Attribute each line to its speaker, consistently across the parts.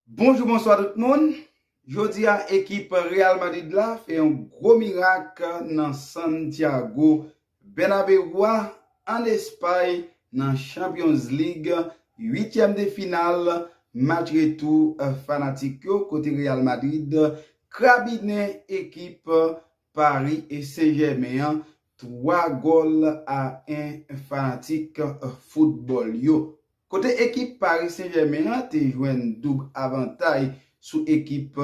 Speaker 1: Bonjou bonswa tout moun, jodi a ekip Real Madrid la fè yon gwo mirak nan Santiago Bernabeu a an Espay nan Champions League 8 tièm de final match retou fanatik yo kote Real Madrid krabinen ekip Paris Saint-Germain an 3 gòl a 1 fanatik foutbòl yo. Kote ekip Paris Saint-Germain an te jwenn doub avantay sou ekip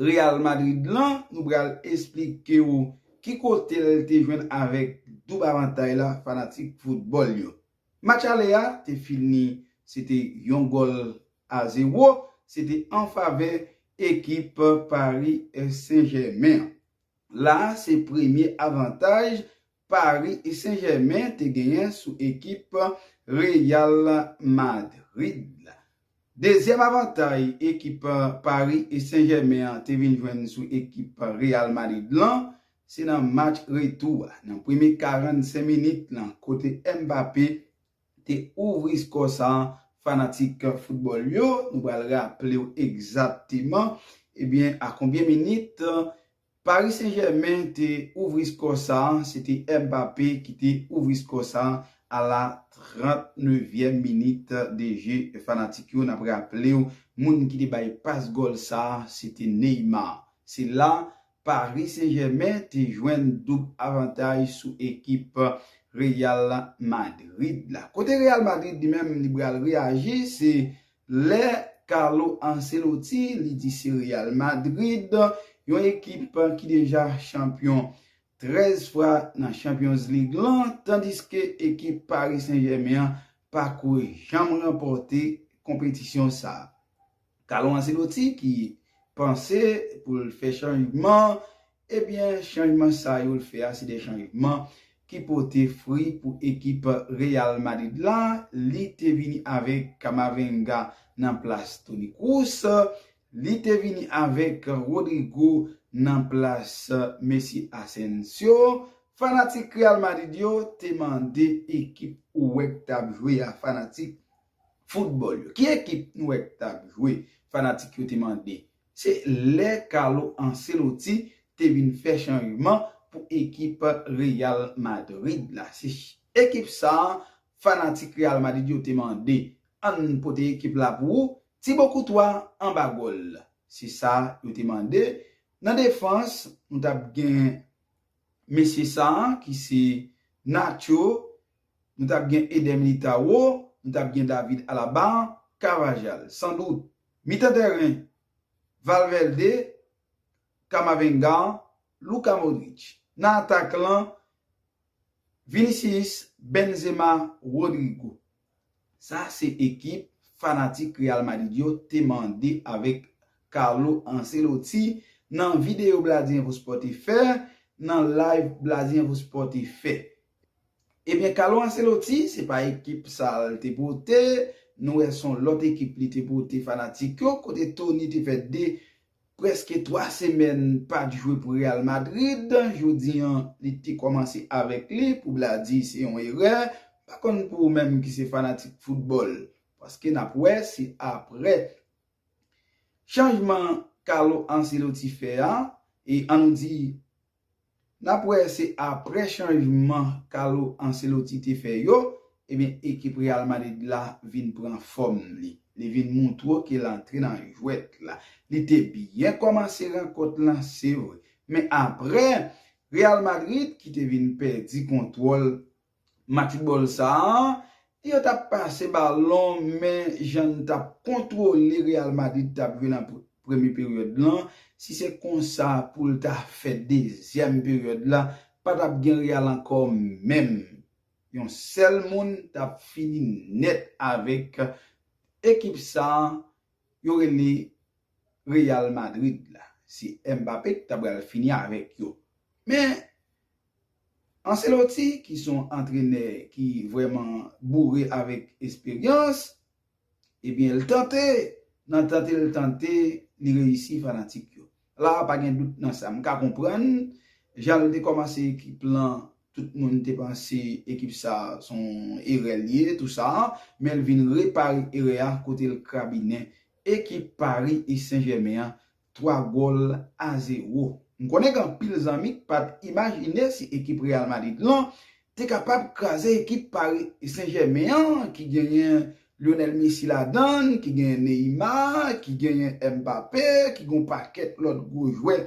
Speaker 1: Real Madrid lan, nou pral esplike ou ki kote l te jwenn avèk doub avantay la fanatik foutbòl yo. Match ale a te fini se te yon gòl a zewo se te an favè ekip Paris Saint Germain an. La a se premye avantaj Paris Saint Germain te genyen sou ekip Real Madrid la. Dezyèm avantay ekip Paris Saint-Germain an te vin jwenn sou ekip Real Madrid lan, se nan match retou a, nan premye 45 minit lan kote Mbappé te ouvri skò sa a, fanatik foutbòl yo, nou pral raple w egzatteman, ebyen a konbyen minit Paris Saint Germain te ouvri skò sa, se te Mbappé ki te ouvri skò sa a la 39 vyèm minit de je fanatik yo nap raplew moun ki te bay pas gòl sa se te Neymar se la Paris Saint Germain te jwenn doub avantaj sou ekip Real Madrid la kote Real Madrid li menm li pral reyaji se Lè Carlo Ancelotti li di se Real Madrid, yon ekip ki deja chanpyon 13 fwa nan Champions League lan, tandiske ekip Paris Saint-Germain an pako janm ranpòte konpetisyon sa. Carlo Ancelotti ki panse pou l fè chanjman Ebyen chanjman sa yo l fè a se de chanjman ki pote fri pou ekip Real Madrid la, li te vini avèk Camavinga nan plas Toni Kroos, li te vini avèk Rodrygo nan plas Messi Asensio, fanatik Real Madrid yo te mande ekip ou wè k tap jwe a fanatik foutbòl yo. Ki ekip nou wè k tap jwe fanatik yo te mande Se lè Carlo Ancelotti te vin fè chanjman pou ekip Real Madrid la. Se ekip sa a fanatik Real Madrid yo te mande. An n pote ekip la pou ou, Thibaut Courtois anba gòl. Se sa yo te mande. Nan defans, nou t ap gen mesye sa a ki se Nacho. Nou t ap gen Eder Militao, nou t ap gen David Alaba, Carvajal. San dout. Mitan tèren, Valverde, Camavinga, Luka Modric. Nan atak lan, Vinicius, Benzema, Rodrygo. Sa se ekip fanatik Real Madrid yo te mande avèk Carlo Ancelotti nan videyo Bladi Enfo Sport te fè, nan live Bladi Enfo Sport te fè. Ebyen Carlo Ancelotti se pa ekip sa l te pote, nou wè son lòt ekip li te pote fanatik yo, kote Toni te fè 2 prèske 3 semèn pat jwe pou Real Madrid, jodi an li te kòmanse avèk li, pou Bladi se yon erè, m pa konn pou ou menm ki se fanatik foutbòl, paske nap wè si aprè chanjman Carlo Ancelotti fè a, e an nou di Nap wè se aprè chanjman Carlo Ancelotti te fè yo, ebyen ekip Real Madrid la vin pran fòm li. Li vin moutro ke l antre nan jwèt la. Li te byen kòmanse rankont lan se vre, men aprè Real Madrid ki te vin pèdi kontwòl Match foutbòl sa a, yo t ap pase balon men jan n t ap kontwole Real Madrid t ap jwe nan premye peryòd lan, si se konsa pou l ta fè dezyèm peryòd la, pa t ap gen Real ankò menm. Yon sèl moun t ap fini nèt avèk ekip sa a yo rele Real Madrid la. Se Mbappé ki ta pral fini avèk yo. Men, Ancelotti ki son antrenè ki vrèman boure avèk esperyans ebyen l tante nan tante l tante li reyisi fanatik yo la pa gen dout nan sa m ka konprann jan l te kòmanse ekip lan tout moun te panse ekip sa son erè l ye tou sa men l vin repare erè a kote l krabinen ekip Paris Saint Germain an 3 gòl a 0. M konnen gen anpil zanmi k pa t imajine si ekip Real Madrid lan te kapab kraze ekip Paris Saint Germain an ki genyen Lionel Messi ladan l, ki genyen Neymar, ki genyen Mbappé, ki gen yon pakèt lòt gwo jwè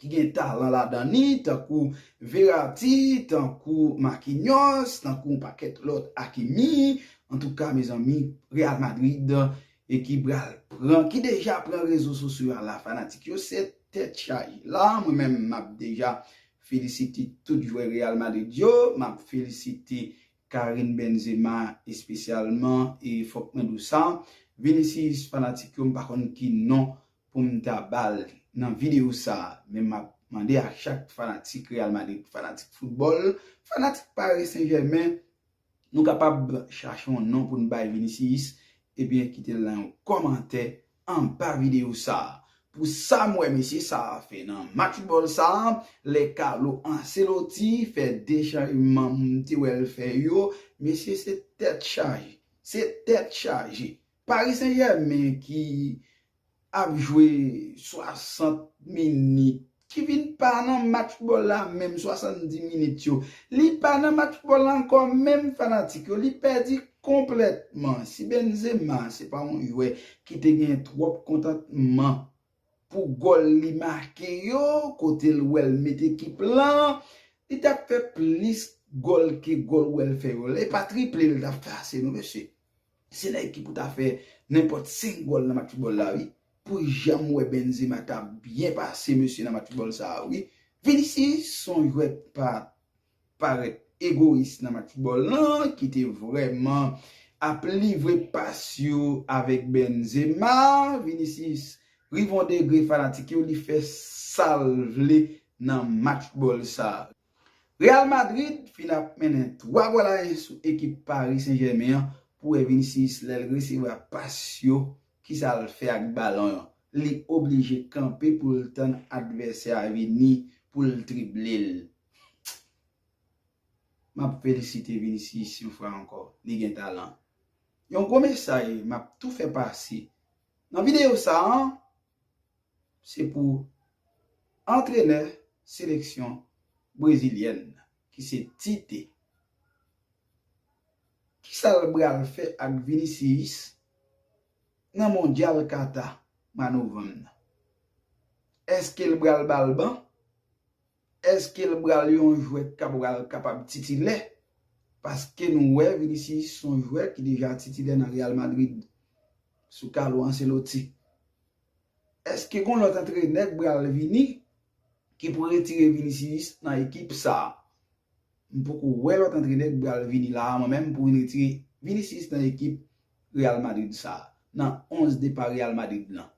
Speaker 1: ki gen talan ladan li tankou Verratti, tankou Marquinhos, tankou yon pakèt lòt Hakimi. Antouka mezanmi Real Madrid e ki pral pran ki deja pran rezo sosyo a la fanatik yo se tèt chaje la mwen menm map deja felisite tout jwè real madrid yo map felisite Karim Benzema espesyalman e fòk mwen diw sa Vinicius fanatik yo mpa konn ki non poum ta bal nan video sa men map mande a chak fanatik real madrid fanatik foutbòl fanatik paris saint germain Nou kapab chache yon non pou n bay Vinicius ebyen kite l nan yon kòmantè anba videyo sa. Pou sa m wè mesye sa a fè nan match foutbòl sa a, lè Carlo Ancelotti fè 2 chanjman m te wè l fè yo, mesye se tèt chaje. Se tèt chaje. Paris Saint Germain ki ap jwe 60 minit, ki vin pa nan match bòl la menm 70 minit yo, li pa nan match bòl la ankò menm fanatik yo, li pèdi konplètman. Si Benzema se pa yon jwè ki te gen twòp kontantman pou gòl li make yo, kote l wè l met ekip lan, li t ap fè plis gòl ke gòl wè l fè yo la. E pa triple l t ap fè ase non mesye. Se nèg ki pou ta fè nenpòt 5 gòl nan match foutbòl la wi. Pou janm wè Benzema ta byen pase mesye nan match foutbòl sa a wi. Vinicius son jwè k pa parèt egoyis nan match foutbòl lan ki te vrèman ap livre pas yo avèk Benzema. Vinicius rive yon degre fanatik yo li fè sa l vle nan match foutbòl sa a. Real Madrid fin ap mennen 3 gòl a 1 sou ekip Paris Saint Germain an pou wè Vinicius lèl resevwa pas yo kisal fè ak balon an li oblije kanpe poul tann advèsè a vini poul driblel map felisite Vinicius yon fwa ankò li gen talan yon gwo mesaj map tou fè pase nan videyo sa an. se pou antrenè seleksyon brezilyèn ki se Tite. Kisa l bral fè ak Vinicius nan mondyal Kata mwa novanm nan? Eske l bral ba l ban? Eske l bral yon jwè k bral kapab titilè? Paske nou wè Vinicius son jwè ki deja titilè nan Real Madrid sou Carlo Ancelotti. Eske gon lòt antrenè k pral vini ki pou retire Vinicius nan ekip sa? M poko wè lòt antrenè k pral vini la a mwen menm pou vin retire Vinicius nan ekip Real Madrid sa a, nan 11 depa Real Madrid lan.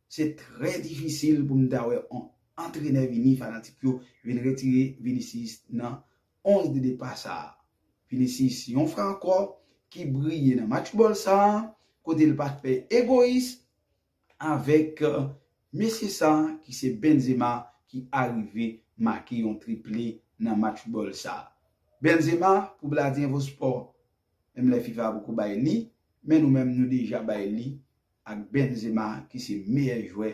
Speaker 1: Se trè difisil pou m ta wè on antrenè vini fanatik yo vin retire Vinicius nan 11 de depa sa a. Vinicius yon fwa ankò ki briye nan match bòl sa a kote l pa fè egoyis avèk mesye sa ki se Benzema ki arive make yon triple nan match football sa. Benzema pou Bladie Info Sport menm lè fifa poko bay li men nou menm nou deja bay li ak Benzema ki se meyè jwè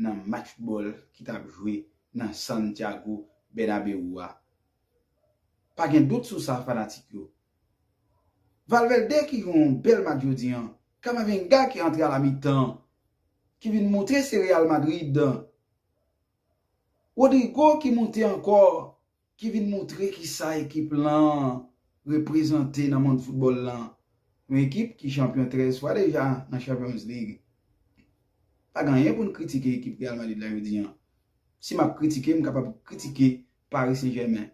Speaker 1: nan match football ki tap jwe nan Santiago Bernabeu a. Pa gen dout sou sa fanatik yo. Valverde ki jwe yon bèl match jodi an Camavinga ki antre a la mitan ki vin moutre se Real Madrid. Rodrygo ki moute ankò ki vin moutre kisa ekip lan reprezante nan mond foutbòl lan. Yon ekip ki chanpyon 13 fwa deja nan Champions League. Pa gen anyen pou n kritike ekip Real Madrid la jodi an. Si m ap kritike m kapab kritike Paris Saint Germain.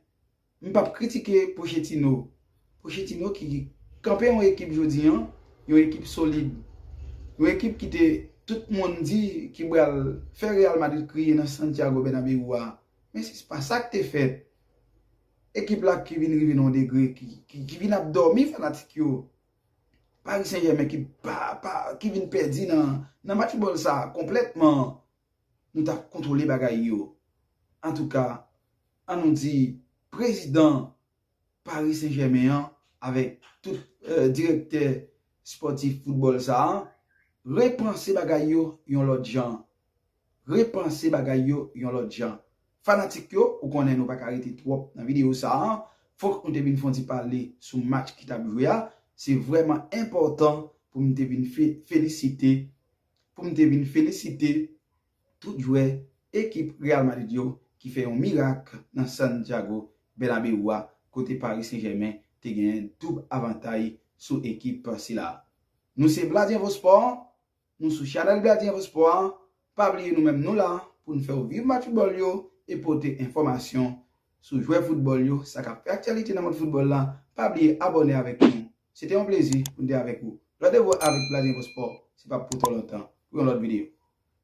Speaker 1: M pap kritike Pochettino. Pochettino ki kanpe yon ekip jodi an, yon ekip solid. Yon ekip ki te tout moun di ki pral fè Real Madrid kriye nan Santiago Bernabeu a. Men se pa sa k te fèt. Ekip la ki vin rive nan yon degre ki vin ap dòmi fanatik yo. Paris Saint Germain ki pa pa ki vin pèdi nan match bòl sa konplètman. Nou ta kontwole bagay yo. Antouka An nou di prezidan Paris Saint Germain an avèk tout direktè spòtif foutbòl sa a repanse bagay yo yon lòt jan. Repanse bagay yo yon lòt jan. Fanatik yo, ou konnen nou pa ka rete twòp nan videyo sa a, fòk nou te vin fè yon ti pale sou match ki t ap jwe a. Se vrèman enpòtan pou m te vin felisite, pou m te vin felisite. Tout jwè ekip Real Madrid yo ki fè yon mirak nan San Diago Bernabeu a kote Paris Saint Germain te genyen doub avantay sou ekip sila. Nou se Blaze Info Sport, nou sou chanèl Blaze Info Sport a, pa bliye nou menm nou la pou n fèw viv match foutbòl yo e pote enfòmasyon sou jwè foutbòl yo sa kap fè aktyalite nan mond foutbòl la, pa bliye abòne avèk nou. Se te yon plezi pou n te avèk ou. Randevou avèk Blaze Info Sport se pap pou twò lontan pou yon lòt videyo.